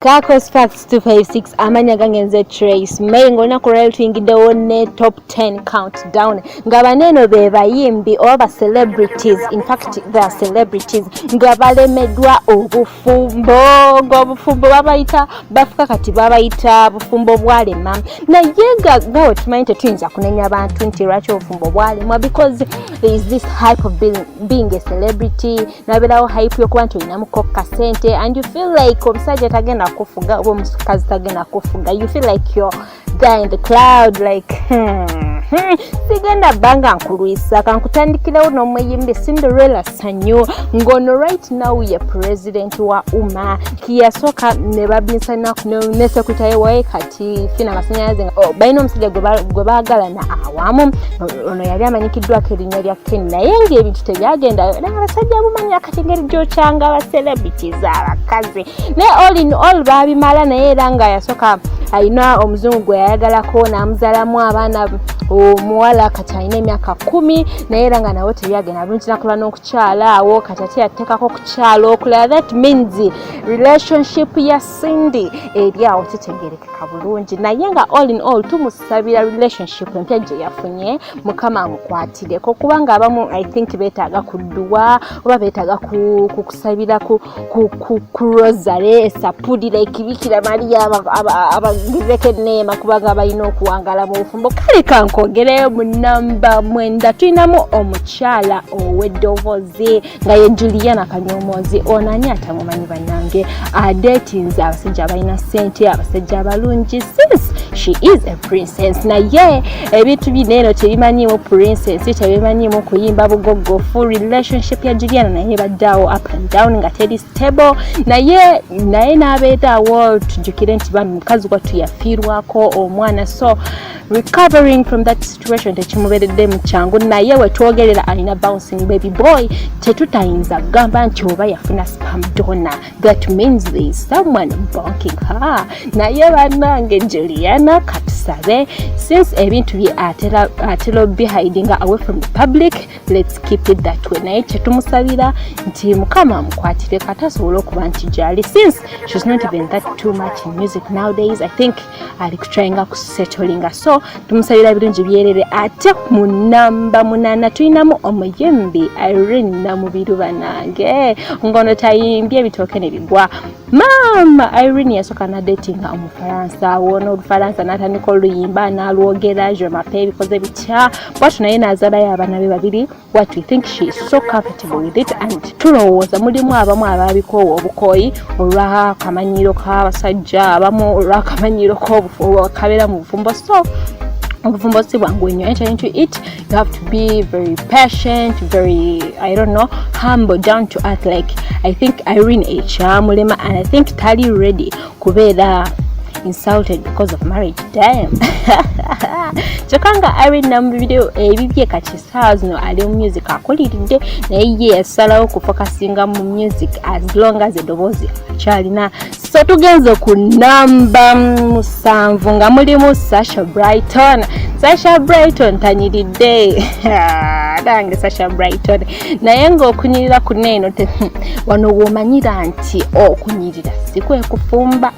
Kako Sparks 256 amanya gange nze Trace May ng'olunaku lwali tuyingiddewo ne top 10 countdown nga baneeno be bayimbi oba ba celebrities in fact the celebrities nga balemeddwa obufumbo ng'obufumbo babayita bafuka kati babayita bufumbo bwalema naye nga nga we tumanyi tetuyinza kunenya bantu nti lwaki obufumbo bwalemwa because is this hype of being, being a celebrity naberawo hype yokuba nti olinamu kokka sente and you feel like omusajja tagenda kufuga oba omukazi tagenda kufuga you feel like your guy in the cloud like hmm, hmm, sigenda banga nkulwisa kankutandikirewo n'omuyimbi cinderella sanyu ngono right now ye president wa uma kiyasooka ne babinsanako ne secretary waye kati tifi namasanyalaze oh, balina omusajja gwe baagalana awamu ono yali amanyikiddwako erinnya lya ken naye ngaebintu tebyagenda naye abasajja bumanya kati ngeri gyokyanga abacelebrities abakazi naye all in all baabimala naye era nga yasooka alina omuzungu gwe yayagalako n'amuzalamu abaana omuwala kati alina emyaka kumi naye era nga nawe tebyagenda bulungi nakola n'okukyala awo kati ate yateekako okukyala okulala that means relationship ya Cindy eri awo kitegerekeka bulungi naye nga all in all tumusabira relationship empya gye yafunye mukama amukwatireko kubanga abamu i think betaaga kudduwa oba betaaga kukusabira ku rosary esapulira ekibikira maliya abagireko eneema kubanga balina okuwangala mu bufumbo kale kankogereyo mu namba mwenda tulinamu omukyala ow'eddoboozi nga ye juliana kanyomoozi ono ani atamumanyi bannange adetinze abasajja abalina ssente abasajja abalungi sis she is a princess naye ebintu bino eno tebimanyiimu princess tebimanyiimu kuyimba bugoggo full relationship ya juliana naye baddaawo up and down nga teri stable naye naye n'abeeraawo tujukire nti bambi mukazi wattu yafiirwako omwana so recovering from that situation tekimuberedde mu kyangu naye wetwogerera alina bouncing baby boy tetutayinza kugamba nti oba yafuna spam dona that means there is someone bonking her naye banange juliana katusabe since ebintu bye atera obihidinga away from the public let's keep it that way naye kyetumusabira nti mukama amukwatire kata asobole okuba nti gyali since she's not even that too much in music nowdays i think ali kutrayinga ku setolinga so tumusabira ebirungi byerere ate mu namba munana tulinamu omuyimbi irene namubiru banange ngono tayimbye ebitooke ne bigwa maama irene yasooka nadetinga omufaransa wona olufaransa natandika oluyimba nalwogera je mapa ebikoze bitya bwatu naye nazalayo abana be babiri what we think she is so comfortable with it and tulowooza mulimu abamu ababikoowa obukooyi olwa kamanyiiro k'abasajja abamu olwa kamanyiiro kabeera mu bufumbo so obufumbo si bwangu nnyo enter into it you have to be very patient very i don't know humble down to earth like i think irene ekyamulema and i think tali ready kubeera insulted because of marriage dam kyokka nga irene namubibireyo ebibye kati stars no ali mu music akuliridde naye ye yasalawo okufokasinga mu music as long as edoboozi akyalina so tugenze ku namba musanvu nga mulimu sasha brighton sasha brighton tanyiridde nange sasha brighton naye ngaokunyirira kuna eno wano womanyira nti okunyirira sikwekufumba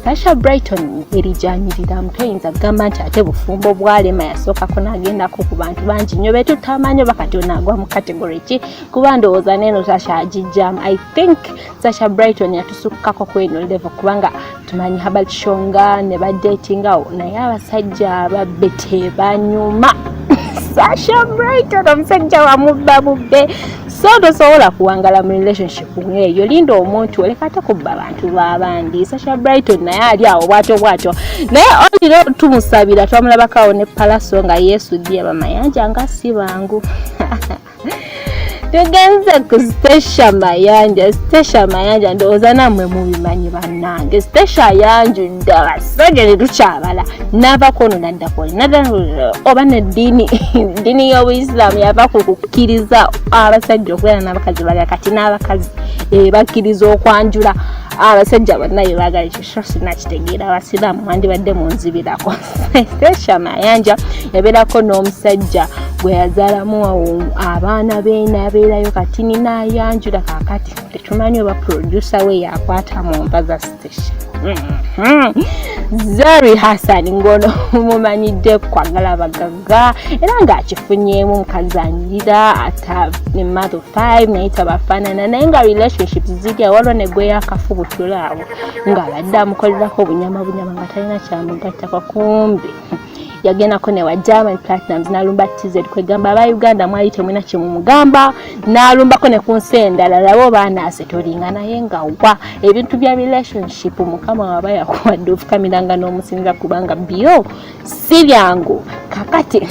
sasha brighton erijanyiriraamu toyinza kugamba nti ate bufumbo bwalema yasookako nagendako ku bantu bangi nyo betutamanyi oba kati onaagwa mu kategory ki kuba ndowooza neeno sasha agijjamu i think sasha brighton yatusukkako ku eno level kubanga tumanyi habert shonga ne badetingawo naye abasajja ababbe tebanyuma sasha brighton omusajja wamubba bubbe so tosobola kuwangala mu relationship ngeeyo linda omuntu oleka ate kubba abantu babandi sasha brighton naye ali awo bwatyo bwatyo naye oliro tumusabira twamulabakawo ne palaso nga yesu ddi abamayanja nga si bangu tugenze ku stecia mayanja stecia mayanja ndowooza namwe mubimanyi bannange stecia yanjudde abasajja ne tukyabala n'abakononani oba neddiini ddiini y'obuisiramu yava ku kukkiriza abasajja okubeera n'abakazi balala kati n'abakazi ebakkiriza eh, okwanjula abasajja bonna bebagala ekyo so sinakitegeera abasiraamu wandibadde munzibirako shamayanja yabeerako n'omusajja gwe yazaalamu abaana be nabeerayo kati ninayanjula kakati tetumanyi oba producer we yakwata mu mbaza Zari Hassan ngono mumanyidde kwagala abagagga era ng'akifunyeemu omukazi anyirira ata ne mother five naye tabafaanana naye nga relationship zirya waliwo ne gwe yakafubutula awo ng'abadde amukolerako obunyama bunyama nga talina kyamugattako kumbi yagendako ne wa Diamond Platnumz n'alumba TZ kwegamba aba Uganda mwali temulina kye mumugamba n'alumbako ne ku nsi endala labo baanaase tolinga naye nga wa ebintu bya relationship mukama waba yakuwadde ofukamiranga n'omusinza kubanga byo si byangu kakati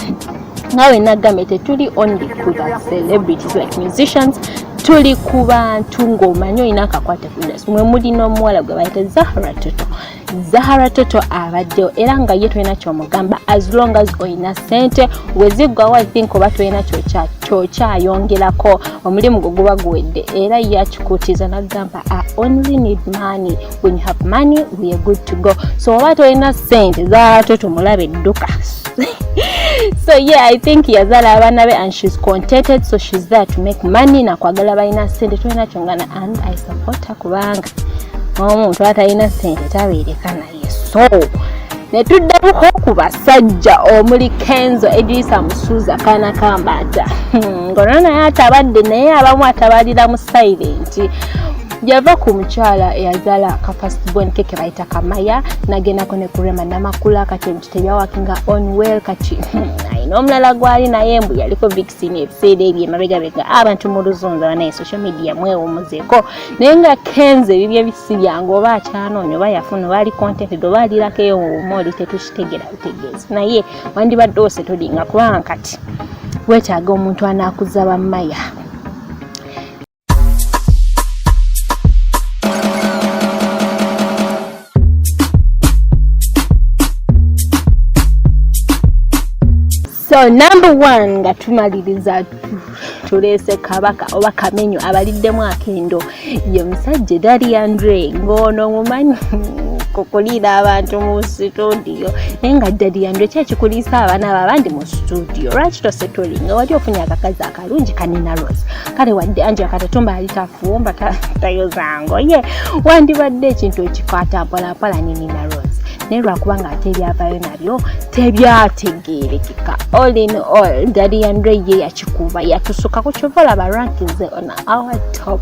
nawe nagambye tetuli only ku ba celebrities like musicians tuli ku bantu ng'omanyi olina akakwate ku industry mwe muli n'omuwala gwe bayita zahra toto zahara toto abaddewo era nga ye tolina kyomugamba as long as olina sente weziggwawo i think oba tolina kyokyayongerako omulimu gwe guba guwedde era ye akikuutiza nagamba i only need money when you have money we are good to go so oba tolina sente zahara toto mulabe dduka so yeah i think yazala abana be and she's contented so she's there to make money nakwagala balina sente tolina kyongana and i support her kubanga omuntu atalina sente tabeereka naye so netuddamuko ku basajja omuli kenzo edrisa musuuza kaana kambaata hmm, ngona naye atabadde naye abamu atabalira mu silenti yava ku mukyala eyazaala ka first born ke ke bayita kamaya nagendako ne kurema namakula kati omuti tebyawakinga on well kati hmm, ayina omulala gwali naye mbu yaliko sini ebiseera ebyo emabegabega abantu mu luzunza banaye social media mwewumuzeko naye nga kenze ebibyo ebisi byange oba akyanoonya oba yafuna oba ali contented oba alirako eyo wuma oli tetukitegera butegeezi naye wandibadde ose tolinga kubanga kati wetaaga omuntu anakuza bamaya so number one nga tumaliriza tuleese kabaka oba kamenyo abaliddemu akendo ye musajja edali andre ng'ono mumanyi kukuliira abantu mu situdiyo naye nga dadi yandwe kyakikuliisa abaana abo abandi mu situdiyo lwaki tosetuli nga wali ofunye akakazi aka kalungi kanina rose kale wadde anja katatumba ali tafumba tayozango ye wandibadde ekintu ekikwata mpolapola ne nina rose naye lwakuba nga ate ebyavayo nabyo tebyategeerekeka all in all dadiandre ye yakikuba yatusukako kyova olaba rankinze on our top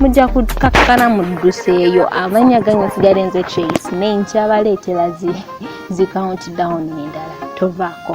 mujja kukakkana mudduseeyo amanya gange sigale nze trace naye nkyabaleetera zi zi count down endala tovaako